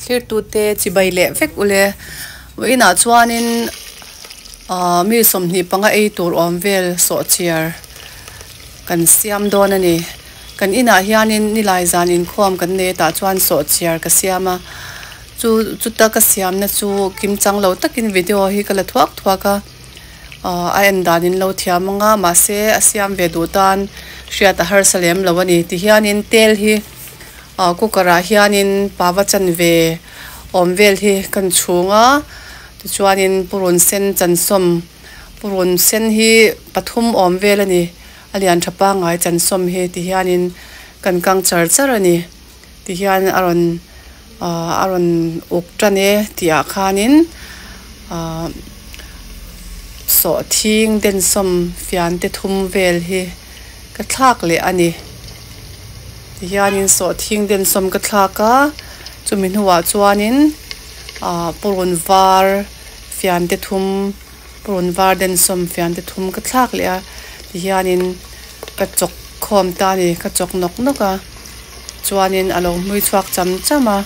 Thirtute chibai leh vek u le. Vawh inah chuanin aaa mi sawmhnih panga ei tur awm vel sawhchhiar kan siam dawn a ni. Kan inah hianin nilai zan inkhuam kan nei tah chuan sawh chiar ka siam a. Chu chuta ka siamna chu kim chang lo takin video hi ka la thuak thuak a. Aw a en danin lo thiam ang a mahse a siam ve duh tan hriat a harsa lem lo a ni. Ti hianin tel hi aw cooker ah hianin pava chan ve awm vel hi ka rawn chhung a. Tichuanin purun sen chansawm purun sen hi pathum awm vel a ni. a lian tha pangai chansawm hi ti hianin kan kang char char a ni ti hian a rawn aah a rawn uk tan e tih ah khanin aah sawhthing densawm fiante thum vel hi ka thlak leh a ni ti hianin sawhthing densawm ka thlak a chumi hnua chuanin aah purun var fiante thum-- Purun var den sawm fian te thum ka thlak leh a ti hian in ka chawk khawm ta a ni ka chawk nawk nawk a chuan in a lo hmui chhuak cham cham a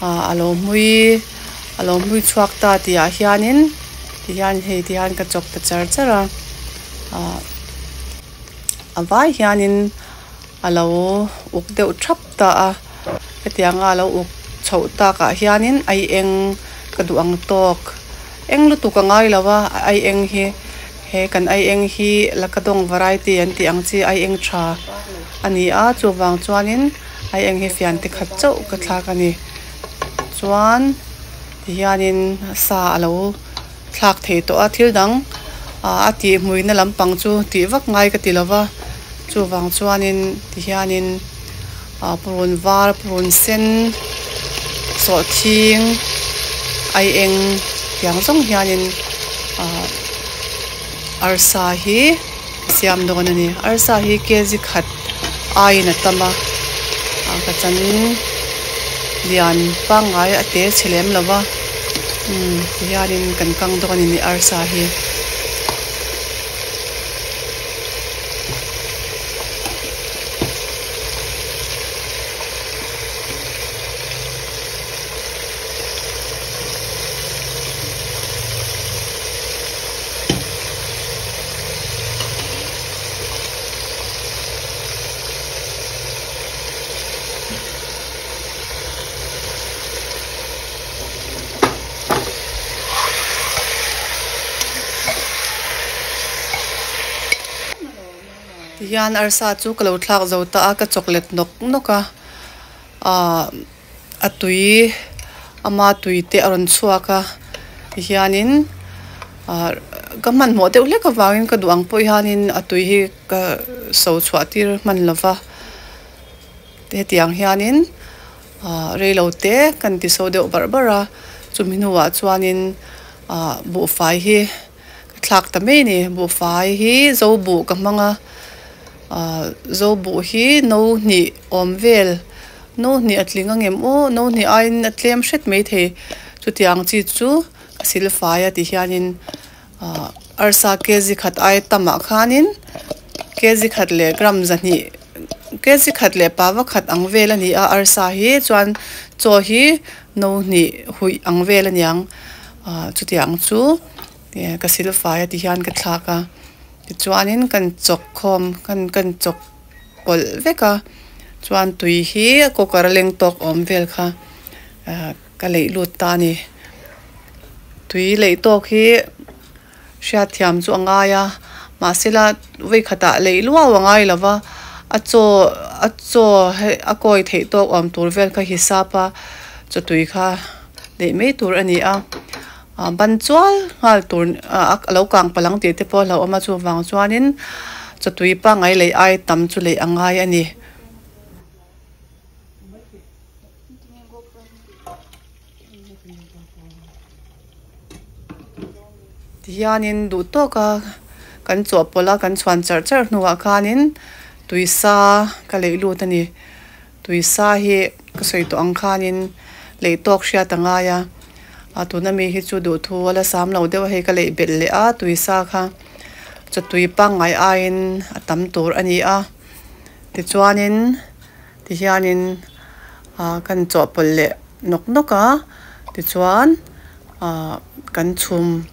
ah a lo hmui a lo hmui chhuak ta ti ah hian in ti hian hei ti hian ka chawk ta char char a ah a vai hian in a lo uk deuh thap. ta a, hetiang a lo uk chho tak ah hian in ai eng ka duh ang tawk, eng lutuk a ngai lo a, ai eng hi he kan ai eng hi lakadawng variety an tih ang chi ai eng tha a ni a, chuvang chuan in ai eng hi fian te khat chauh ka thlak a ni, chuan ti hian in sa a lo. thlak thei tawh a thil dang ah a tih hmuihna lampang chu tih vak ngai ka ti lo va chuvang chuanin ti hianin ah purun var purun sen sawhthing ai eng tiang zawng hianin ah arsa hi-- Siam dawn a ni. Arsa hi kg khat aiin a tam a, ah ka chanin lian pangngai a te chhe lem lova, umm tihianin kan kang dawn a ni nih arsa hi. Ti hian arsa chu ka lo thlak zo ta a ka chawk let nawk nawk a ahh. A tui ama tui te a rawn chhuak a tihianin ah ka hmanhmawh deuh hlek avangin ka duh ang pawh hianin a tui hi ka sawi chhuah tir hman lo va hetiang hianin ah reilo te kan ti sawi deuh bar bar a chumi hnua chuanin ah buhfai hi-- Ka thlak ta mai ni buhfai hi zo buh ka hmang a zo buh hi no hnih awm vel no hnih a tling a ngem aw no hnih aiin a tlem hret mai thei chutiang chi chu a silfai a ti hianin arsa kg khat ai tam ah khanin kg khat leh gram zahnih kg khat leh pava khat ang vel a ni a arsa hi chuan chaw hi no hnih huih ang vel a niang. Ahh chutiah ang chu ka sil fai a ti hian ka thlak a, tichuanin kan chawk khawm kan chawk pawlh vek a, chuan tui hi a cooker a leng tawk awm vel kha ka leih lut ta a ni, tui leih tawk hi. Hriatthiam chu a ngai a, mahsela veikhatah leih luau a ngai lova, a chaw a chaw a kawi theih tawk awm tur vel kha hi sapa chawtui kha leih mai tur a ni a, ban chual nghal tur a lo kang palang tih te pawh a lo awm a, chuvang chuanin chawtui pangai leih ai tam chu leih a ngai a ni. Tihianin duh tawk a kan chawh pawlh a, kan chhuan charh charh hnuah khanin tuisa ka leih lut a ni. Tuisa hi ka sawi tawh ang khanin leih tawk hriat a ngai a, a tuna mi hi chu duhthu a la sam lo deuh a, hei ka leih belh leh a tuisa kha chawhtui pangngai aiin a tam tur a ni a. Tichuanin. Tihianin ah kan chawhpawlh leh nawk nawk a, tichuan ah kan chhum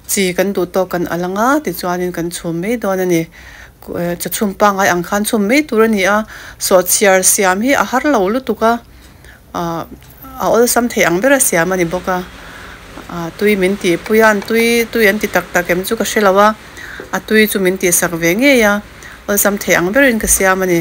chi kan duh tawk kan al anga, tichuanin kan chhum mai dawn a ni. Ka chhum pangngai ang khan chhum mai tur a ni a, sawhchhiar siam hi a har lo lutuk a, ah a awlsam thei ang bera siam a ni bawk a. Ah tui min tihpui a, an tui tui an ti tak tak em chu ka hre lo a, a tui chu min tihsak ve ngei a, awlsam thei ang berin ka siam a ni.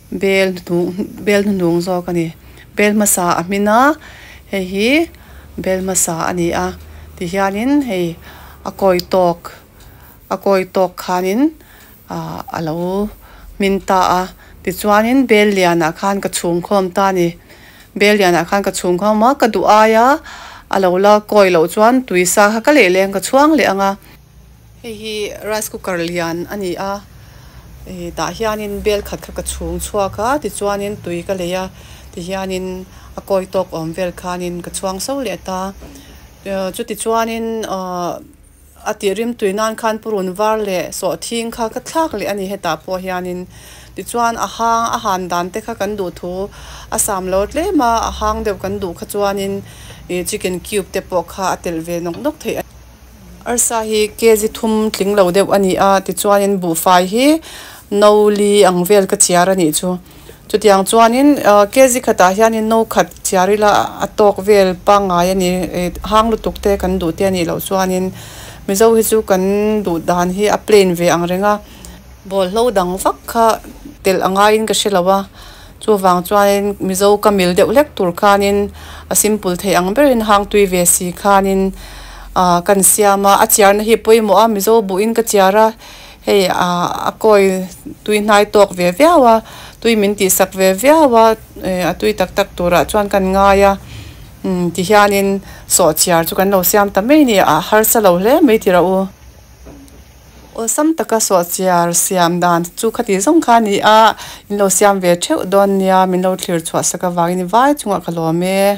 bel hnuhnung bel hnuhnung zawk a ni bel hmasa a hmin a hei hi bel hmasa a ni a ti hianin hei a kawi tawk a kawi tawk khanin ah a lo hmin ta a tichuanin bel lian ah khan ka chhungkhawm ta a ni bel lian ah khan ka chhungkhawm a ka duh aia a lo la kawi loh chuan tui sa kha ka lehleng ka chhuang leh ang a. Hei hi rice cooker lian a ni a, ih tah hianin bel khat kha ka chhung chhuak a tichuanin tui ka lei a tihianin a kawi tawk awm vel khanin ka chhuang so leh ta uh chuti chuanin uh a tih rim tui nan khan purun var leh sawh thing kha ka thlak leh a ni hetah pawh hianin tichuan a hang a han dan te kha kan duh thu a sam lo tlem a a hang deuh kan duh kha chuanin ih chicken cube te pawh kha a telh ve nawk nawk theih a ni. Arsa hi kg thum tling lo deuh a ni a, tichuanin buhfai hi no li ang vel ka chiar a nih chu. Chutiang chuanin kg khatah hianin no khat chiar ila a tawk vel pangngai a ni. Hang lutuk te kan duh tia nih loh chuanin Mizo hi chu kan duh dan hi a plain ve ang reng a. Bawlhlo dang vak kha telh a ngaiin ka hre lo a, Chuvang chuanin Mizo ka mil deuh hlek tur khanin a simple thei ang berin hang tui ve si khanin ah kan siam a, a chiarna hi pawimawh a Mizo buin ka chiar a, hei ah a kawi tui hnai tawk ve viau a, tui min tih sak ve viau a, eh a tui tak tak turah chuan kan ngai a umm ti hianin sawhchiar chu kan lo siam ta mai ni a, a harsa lo hle mai tih rah u. Awlsam taka suah chiar siam dan chu khati zawng kha ni a, in lo siam ve theuh dawn nia, min lo thlir chhuah sak avangin i vai chungah ka lawm e.